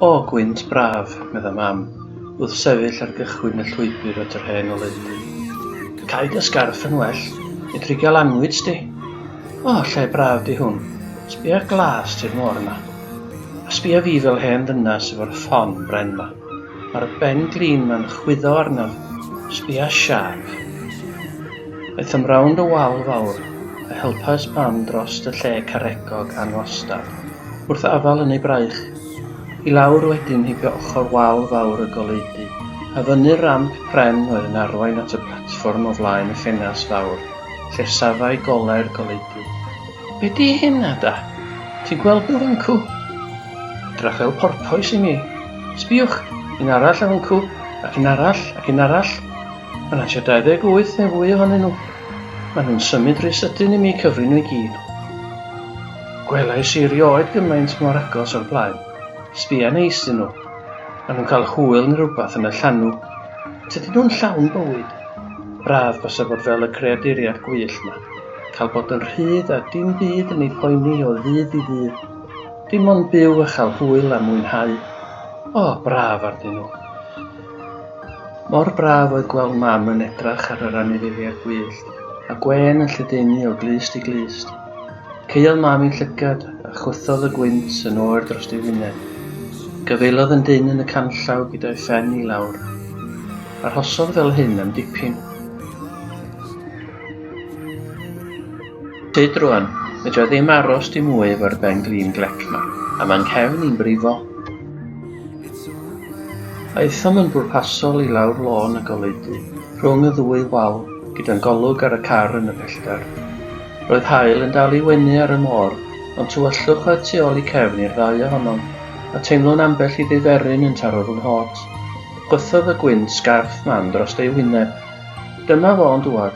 O, gwynt braf, medda Mam, wrth sefyll ar gychwyn y llwybr at yr hen oleudy. Cau dy sgarff yn well, medru gael anwyd sti. O, lle braf di hwn. Sbia'r glas ti'r môr yma. A sbia fi fel hen ddynas efo'r ffon bren ma. Ma'r ben-glin ma'n chwyddo arnaf. Sbia siâp. Aethom rownd y wal fawr, a helpas mam drost y lle caregog anwastad, wrth afal yn ei braich. I lawr wedyn heibio ochr wal fawr y goleudy, a fyny'r ramp pren oedd yn arwain at y platfform o flaen y ffenast fawr, lle safai gole'r goleudy. Be 'di hyn, Ada? Ti'n gweld nhw, Fancw? Rhyfel porpoise i mi. Sbïwch, un arall ar hwncw, ac un arall, ac un arall. Mae yna tua 28 neu fwy ohonyn nhw. Mae nhw'n symud rhy sydyn i mi cyfri nhw i gyd. Gwelais i rioed gymaint mor agos o'r blaen. Sbïa neis dyn nhw. Mae nhw'n cael hwyl neu rhywbeth yn y llanw. Tydyn nhw'n llawn bywyd. Braf basa bod fel y creaduriad gwyllt 'ma. Cael bod yn rhydd a dim byd yn ei phoeni o ddydd i ddydd. Dim ond byw a chael hwyl a mwynhau. O, braf arnyn nhw. Mor braf oedd gweld mam yn edrach ar yr anifeiliaid gwyllt, a gwên yn lledaenu o glust i glust. Caeodd mam ei llygad, a chwythodd y gwynt yn oer dros ei wyneb. Gafaelodd yn dyn yn y canllaw gyda'i phen i lawr. Arhosodd fel hyn am dipyn. Tyd rwan, fedra i ddim aros dim mwy efo'r ben glin glec ma, a mae'n nghefn i'n brifo. Aethom yn bwrpasol i lawr lôn y goleudy, rhwng y ddwy wal, gyda'n golwg ar y car yn y pellter. Roedd haul yn dal i wenu ar y môr, ond tywyllwch oedd tu ôl i cefn i'r ddau ohonom, a teimlwn ambell i ddiferyn yn taro fy nghot. Gwthodd y gwynt sgarff mam dros ei wyneb. Dyma fo'n dŵad.